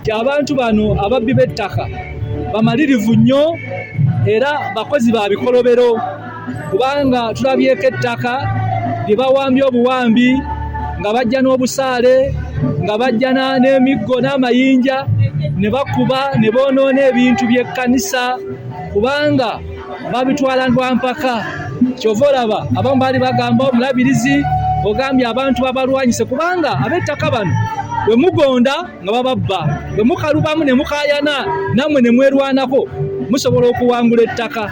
nti abantu bano ababbi b'ettaka bamalirivu nnyo era bakozi ba bikolobero kubanga tulabyeko ettaka lye bawambye obuwambi nga bajja n'obusaale nga bajja n'emiggo n'amayinja ne bakuba ne boonoona ebintu by'ekkanisa kubanga babitwala lwa mpaka kyova olaba abamu baali bagamba omulabirizi ogambye abantu babalwanyise kubanga ab'ettaka bano bwe mugonda nga bababba bwe mukalubamu ne mukayana nammwe ne mwerwanako musobola okuwangula ettaka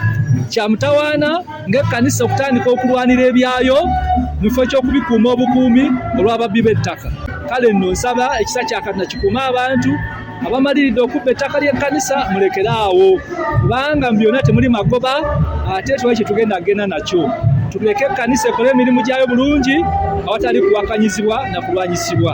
kya mutawaana ng'ekkanisa okutandika okulwanira ebyayo mu kifo ky'okubikuuma obukuumi olw'ababbi b'ettaka kale nno nsaba ekisa kya katonda kikuume abantu abamaliridde okubba ettaka ly'ekkanisa mulekere awo kubanga mu byonna temuli magoba ate twali kye tugenda kugenda nakyo tuleke ekkanisa ekole emirimu gyayo bulungi awatali kuwakanyizibwa na kulwanyisibwa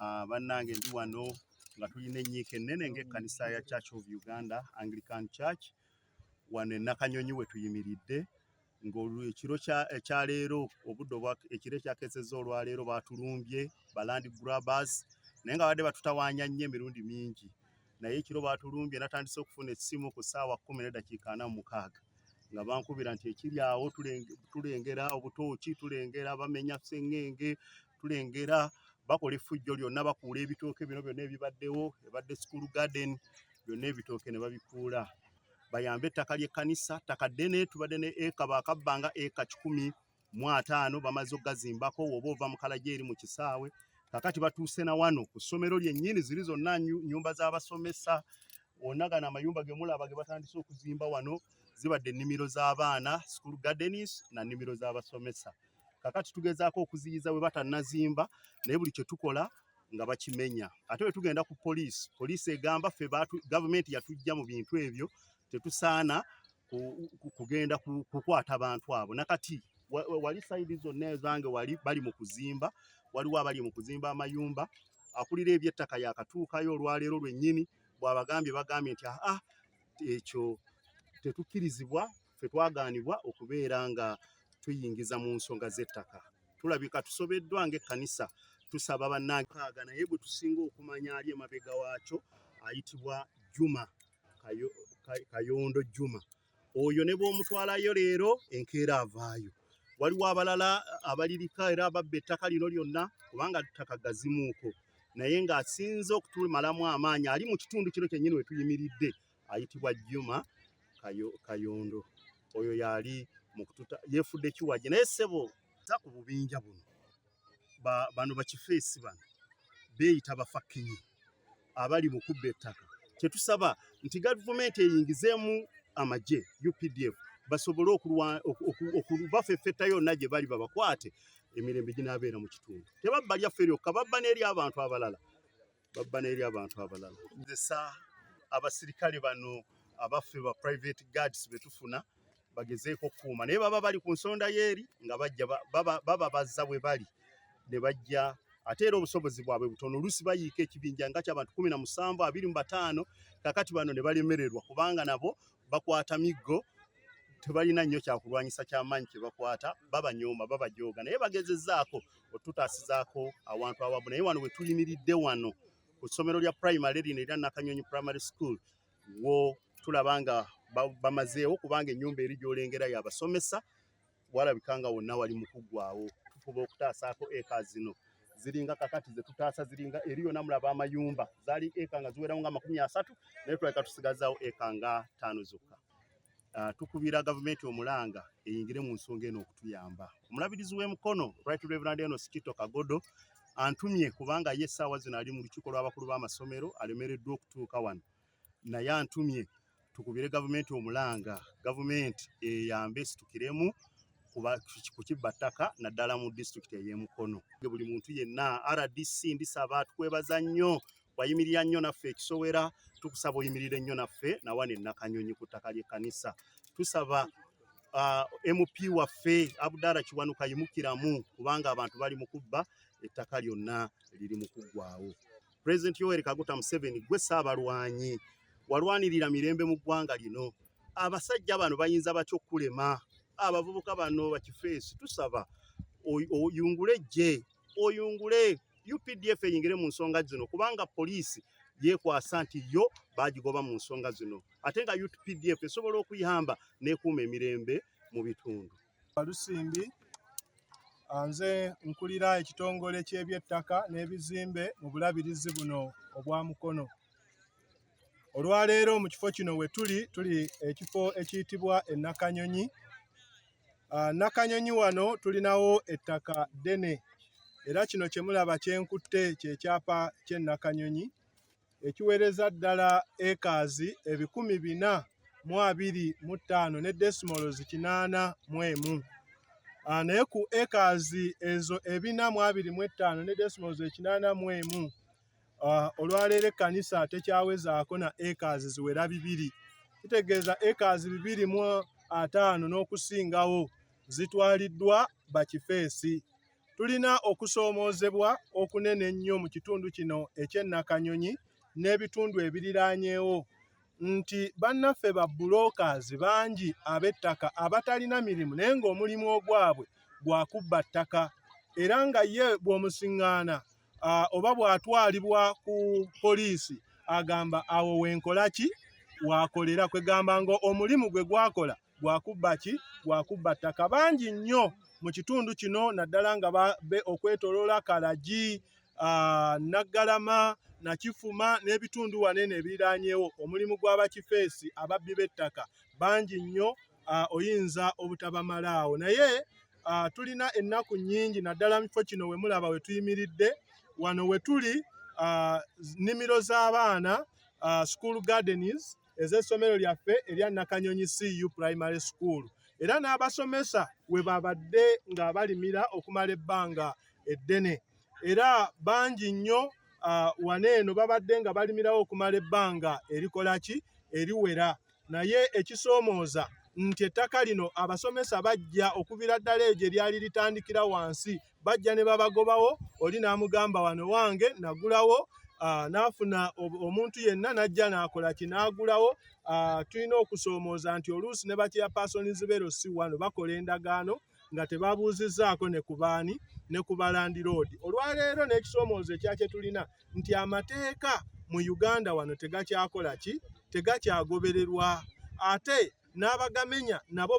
Ah, bannange ndi wano nga tulina enyiika ennene ng'ekkanisa ya Church of Uganda Anglican Church wano e Nakanyonyi we tuyimiridde ng'ekiro ekya eh, leero obudde obwa ekiro ekyakeesezza olwaleero baatulumbye balandi grabers naye nga badde batutawaanya nnyo emirundi mingi naye ekiro baatulumbye natandise okufuna essimu ku ssaawa kkumi n'eddakiika ana mu mukaaga nga bankubira nti ekiri awo tulengera obutooki tulengera bamenya sengenge tulengera bakola effujjo lyonna bakuula ebitooke bino byonna ebibaddewo ebadde school garden byonna ebitooke ne babikuula bayambe ettaka ly'ekkanisa ttaka ddene tubadde ne eka baakabbanga eka kikumi mu ataano bamaze okugazimbako woba ova mu kalagi eri mu kisaawe kakati batuuse na wano ku ssomero lyennyini ziri zonna nnyumba z'abasomesa wonna gano amayumba ge mulaba ge batandise okuzimba wano zibadde ennimiro z'abaana school gardens na nnimiro z'abasomesa kakati tugezaako okuziyiza bwe batannazimba naye buli kye tukola nga bakimenya ate bwe tugenda ku poliisi poliisi egamba ffe gavumenti yatujja mu bintu ebyo tetusaana kugenda kukwata bantu abo nakati wali sayidi zonna ezange wali bali mu kuzimba waliwo abali mu kuzimba amayumba akulira ebyettaka yakatuukayo olwaleero lwennyini bwabagambye bagambye nti aa ah, ah, ekyo tetukkirizibwa ffe twagaanibwa okubeera nga tuyingiza mu nsonga z'ettaka tulabika tusobeddwa ng'ekkanisa tusaba bannaankaaga naye gwe tusinga okumanya ali emabega waakyo ayitibwa juma kayondo juma oyo ne bw'omutwalayo leero enkeera avaayo waliwo abalala abalirika era ababba ettaka lino lyonna kubanga ttaka gazimuuko naye ng'asinze okutumalamu amaanyi ali mu kitundu kino kyennyini we tuyimiridde ayitibwa Juma Kayondo oyo yali mukututa yefudde kiwaje naye sebo ta ku bubinja buno ba, bano bakifeesi bano beeyita bafakinyi abali mu kubba ettaka kyetusaba nti gavumenti eyingizeemu amagye updf basobole okubafefetta yonna gye bali babakwate emirembe ginaabeera mu kitundu tebabba lyaffe lyokka babba n'eri abantu abalala babba n'eri abantu abalala gezesa abasirikale bano abaffe ba private guards betufuna bagezeeko okukuuma naye baba bali ku nsonda yeeri nga bajja baba bazza bwe bali ne bajja ate era obusobozi bwabwe butono oluusi bayiika ekibinja nga kyabantu kumi na musanvu abiri mu bataano kakati bano ne balemererwa kubanga nabo bakwata miggo tebalina nnyo kyakulwanyisa kyamaanyi kyebakwata babanyooma babajooga naye bagezezaako otutaasizaako awantu awamu naye wano wetuyimiridde wano ku ssomero lya primary lino era nakanyonyi primary school wo tulaba nga bamazeewo kubanga ennyumba eri gyolengera yabasomesa walabika nga wonna wali mukuggwawo tufuba okutaasaako eka zino ziringa kakati zetutaasa ziringa eri yona mulaba amayumba zaali eka nga ziwerawo nga amakumi asatu naye tulabika tusigazaawo eka nga taano zokka Uh, tukubira gavumenti omulanga eyingire mu nsonga eno okutuyamba. Omulabirizi w'e Mukono Right Reverend Enos Kito Kagodo antumye kubanga ye essaawa zino ali mu lukiiko lw'abakulu b'amasomero alemereddwa okutuuka wano, naye antumye tukubire gavumenti omulanga, gavumenti eyambe esitukiremu ku kibba ttaka naddala mu disitulikiti ey'e Mukono. Buli muntu yenna RDC ndisaba tukwebaza nnyo wayimirira nnyo naffe ekisowera tukusaba oyimirire nnyo naffe nawana enakanyonyi ku ttaka ly'ekkanisa tusaba uh, mp waffe abudara kiwanuka yimukiramu kubanga abantu bali mu kubba ettaka lyonna liri mu kuggwawo pulezidenti yoweri kaguta museveni gwe saabalwanyi walwanirira mirembe mu ggwanga lino abasajja bano bayinza batya okukulema abavubuka bano bakifeesi tusaba oyungule ejje oyungule updf eyingire mu nsonga zino kubanga poliisi yekwasa nti yo bagigoba mu nsonga zino ate nga updf esobola okuyamba nekuuma emirembe mu bitundu balusimbi nze nkulira ekitongole ky'ebyettaka n'ebizimbe mu bulabirizi buno obwa mukono Olwaleero mu kifo kino we tuli tuli ekifo ekiyitibwa e Nakanyonyi. Ah, Nakanyonyi wano tulinawo ettaka ddene era kino kye mulaba kye nkutte kye kyapa ky'e Nakanyonyi ekiweereza ddala ekaazi ebikumi bina mu abiri mu ttaano ne desimolozi kinaana mu emu. Ah, naye ku ekaazi ezo ebina mu abiri mu ettaano ne desimolozi ekinaana mu emu Ah, olwaleero ekkanisa tekyawezaako na acres ziwera bibiri kitegeeza acres bibiri mu ataano n'okusingawo zitwaliddwa bakifeesi tulina okusoomoozebwa okunene ennyo mu kitundu kino eky'ennakanyonyi n'ebitundu ebiriraanyeewo nti bannaffe ba bulokaazi bangi ab'ettaka abatalina mirimu naye ng'omulimu ogwabwe gwa kubba ttaka era nga ye bw'omusiŋŋaana uh, oba bw'atwalibwa ku poliisi agamba awo wenkola ki wakolera kwegamba nga omulimu gwe gwakola gwakubba ki gwakubba ttaka bangi nnyo mu kitundu kino naddala nga be okwetoloola kalagi uh, naggalama nakifuma n'ebitundu wanene ebiriranyewo omulimu gw'abakifeesi ababbi b'ettaka bangi nnyo uh, oyinza obutabamalaawo naye uh, tulina ennaku nnyingi naddala mu kifo kino we mulaba we tuyimiridde wano we tuli uh, nnimiro z'abaana uh, school gardens ez'essomero lyaffe erya Nakanyonyi CU Primary School era n'abasomesa we babadde ng'abalimira okumala ebbanga eddene era bangi nnyo uh, wano eno babadde nga balimirawo okumala ebbanga erikolaki eriwera naye ekisoomooza nti ettaka lino abasomesa bajja okubira ddala egyo eryali litandikira wansi bajja ne babagobawo oli n'amugamba wano wange nagulawo Ah, n'afuna omuntu yenna n'ajja n'akola ki n'agulawo ah, tulina okusoomooza nti oluusi ne bakyeya paasonizi beero si wano bakola endagaano nga tebabuuzizzaako ne ku baani ne ku balandiroodi olwaleero n'ekisoomoozo ekyakye tulina nti amateeka mu uganda wano tegakyakola ki tegakyagobererwa ate n'abagamenya nabo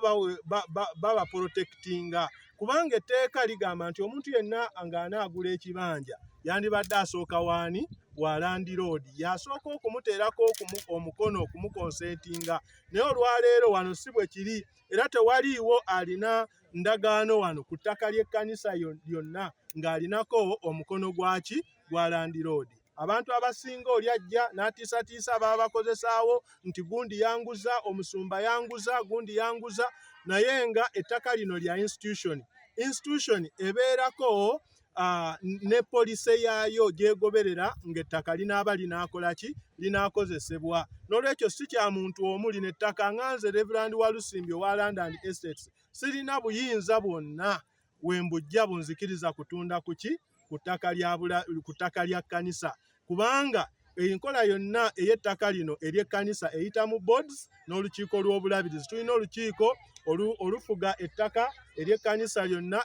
babaporotekitinga kubanga etteeka ligamba nti omuntu yenna ng'anaagula ekibanja yandibadde asooka waani wa landiroodi yasooka okumuteerako omukono okumukonseetinga naye olwaleero wano si bwe kiri era tewaliiwo alina ndagaano wano ku ttaka ly'ekkanisa lyonna ng'alinako omukono gwaki gwa landiroodi abantu abasinga oli ajja n'atiisatiisa baba bakozesaawo nti gundi yanguza omusumba yanguza gundi yanguza naye nga ettaka lino lya institution institution ebeerako ne poliisi yaayo gyegoberera ng'ettaka linaaba linaakola ki linaakozesebwa n'olwekyo si kya muntu omu lino ettaka nga nze reverand walusimbi owa london estates sirina buyinza bwonna wembujja bunzikiriza kutunda kuki ku ttaka lya kkanisa kubanga enkola yonna ey'ettaka lino ery'ekkanisa eyita mu boards n'olukiiko lw'obulabirizi tulina olukiiko olufuga ettaka ery'ekkanisa lyonna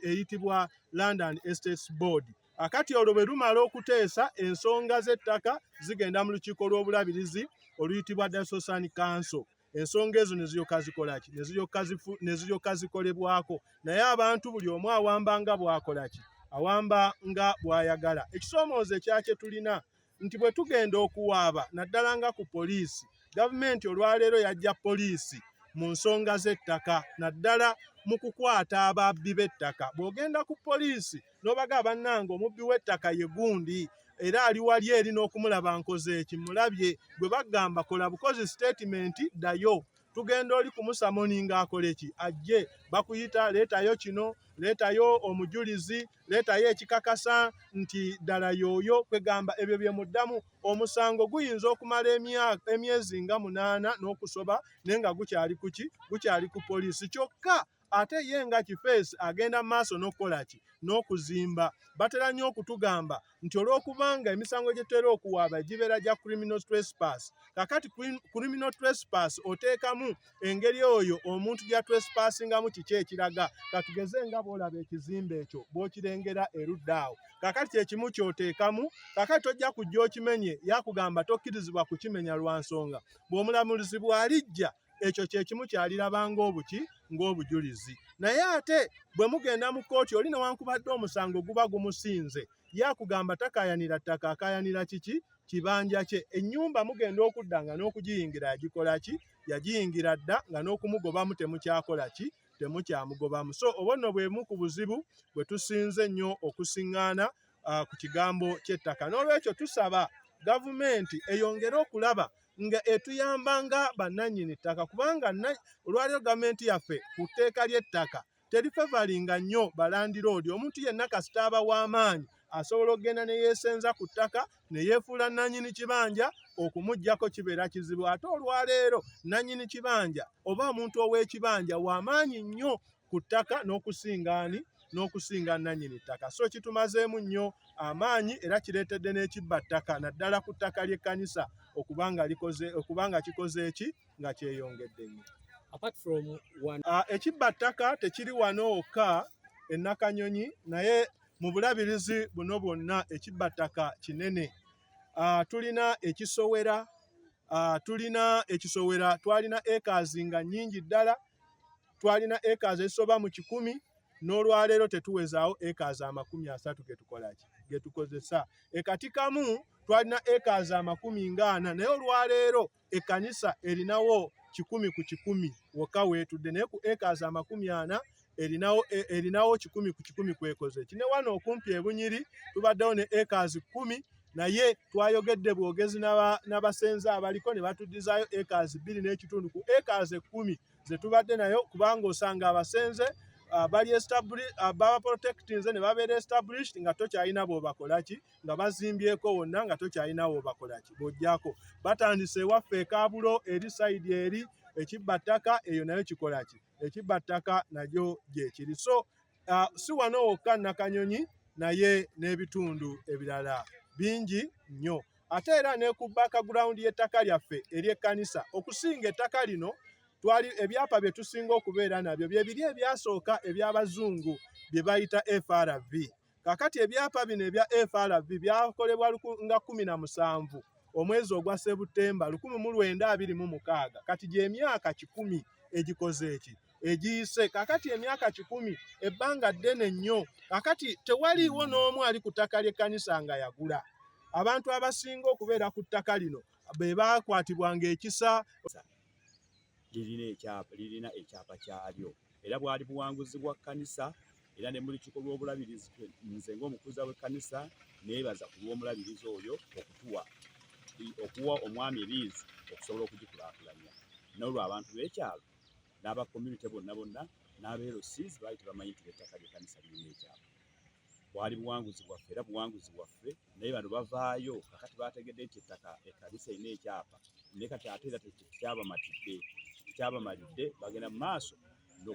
eyitibwa london estates board akati olwo bwe lumala okuteesa ensonga z'ettaka zigenda mu lukiiko lw'obulabirizi oluyitibwa dasosani kanso ensonga ezo neziryoka zikolaki neziryoka zikolebwako naye abantu buli omu awamba nga bwakolaki awamba nga bwayagala ekisoomooza ekyakye tulina nti bwe tugenda okuwaaba naddala nga ku poliisi gavumenti olwaleero yajja poliisi mu nsonga z'ettaka naddala mu kukwata ababbi b'ettaka bw'ogenda ku poliisi nobaga bannange omubbi w'ettaka ye gundi era ali wali eri n'okumulaba nkoze eki mulabye gwe bagamba kola bukozi sitatimenti ddayo tugenda oli kumusamoni ng'akola eki ajje bakuyita leetayo kino leetayo omujulizi leetayo ekikakasa nti ddala yooyo kwegamba ebyo bye muddamu omusango guyinza okumala emyezi nga munaana n'okusoba naye nga gukyali kuki gukyali ku poliisi kyokka ate ye nga kifeesi agenda mu maaso n'okukola ki n'okuzimba batera nnyo okutugamba nti olw'okubanga emisango gye tutera okuwaaba gibeera gya criminal trespass kakati criminal trespass oteekamu engeri oyo omuntu gya trespassingamu kiki ekiraga katugeze nga bw'olaba ekizimbe ekyo bw'okirengera erudda awo kakati kyekimu kyoteekamu kakati tojja kujja okimenye yakugamba tokkirizibwa kukimenya lwa nsonga bw'omulamuzi bw'alijja ekyo kyekimu kyaliraba ng'obuki ng'obujulizi naye ate bwe mugenda mu kkooti oli newankubadde omusango guba gumusinze yakugamba takayanira ttaka akayanira kiki kibanja kye ennyumba mugenda okudda nga n'okugiyingira yagikola ki yagiyingira dda nga n'okumugobamu temukyakola ki temukyamugobamu so obwo nno bwemu ku buzibu bwe tusinze ennyo okusiŋŋaana ah, ku kigambo ky'ettaka n'olwekyo tusaba gavumenti eyongere okulaba nga etuyamba nga bannannyini ttaka kubanga olwaliyo gavumenti yaffe ku tteeka ly'ettaka teri fevalinga nnyo balandiroodi omuntu yenna kasita aba w'amaanyi asobola okugenda ne yeesenza ku ttaka ne yeefuula nnannyini kibanja okumugyako kibeera kizibu ate olwaleero nnannyini kibanja oba omuntu ow'ekibanja w'amaanyi nnyo ku ttaka n'okusinga ani n'okusinga nnannyini ttaka so kitumazeemu nnyo amaanyi era kireetedde n'ekibba ttaka naddala ku ttaka ly'ekkanisa okuba nga likoze okuba nga kikoze eki nga kyeyongedde nnyo ah, ekibba ttaka tekiri wano wokka ennakanyonyi naye mu bulabirizi buno bwonna ekibba ttaka kinene ah, tulina ekisowera ah, tulina ekisowera twalina ekaazi nga nnyingi ddala twalina acres ezisoba mu kikumi n'olwaleero tetuwezaawo acres amakumi asatu getukolaki getukozesa ekatikamu twalina acres amakumi ngaana naye olwaleero ekkanisa erinawo kikumi ku kikumi wokka weetudde naye ku acres amakumi ana erinawo e, erinawo kikumi ku kikumi kwekoze kine wano okumpi ebunyiri tubaddewo ne acres kkumi naye twayogedde bwogezi n'abasenze abaliko ne batuddizaayo acres bbiri n'ekitundu ku acres ekkumi ze tubadde nayo kubanga osanga abasenze ah, bali ah, baba protectinze ne babeera established nga tokyalina bwobakolaki nga bazimbyeko wonna nga tokyalina wobakolaki bwojjako batandise ewaffe ekabulo eri saidi eri ekibba ttaka eyo nayo kikolaki ekibba ttaka nagyo gyekiri so uh, si wano wokka Nakanyonyi naye n'ebitundu ebirala bingi nnyo ate era ne ku background y'ettaka lyaffe ery'ekkanisa okusinga ettaka lino twali ebyapa bye tusinga okubeera nabyo bye biri ebyasooka eby'abazungu bye bayita FRV kakati ebyapa bino ebya FRV byakolebwa nga kumi na musanvu omwezi ogwa Septemba lukumi mu lwenda abiri mu mukaaga kati gy'emyaka kikumi egikoze eki egiyise kakati emyaka kikumi ebbanga ddene nnyo kakati tewaliiwo n'omu ali ku ttaka ly'ekkanisa nga yagula abantu abasinga okubeera ku ttaka lino be baakwatibwa ng'ekisa lirina ekyapa lirina ekyapa kyalyo era bwali buwanguzi bwa kkanisa era ne mu lukiiko lw'obulabirizi nze ng'omukuza w'ekkanisa neebaza ku lw'omulabirizi oyo okutuwa okuwa omwami ebiizi okusobola okugikulaakulanya n'olwo abantu b'ekyalo n'aba community bonna bonna n'aba LC baali tebamanyi nti ettaka ly'ekkanisa lirina ekyapa bwali buwanguzi bwaffe era buwanguzi bwaffe naye bano bavaayo kakati bategedde nti ettaka ekkanisa erina ekyapa naye kati ate era tekyabamatidde tekyabamalidde bagenda mu maaso no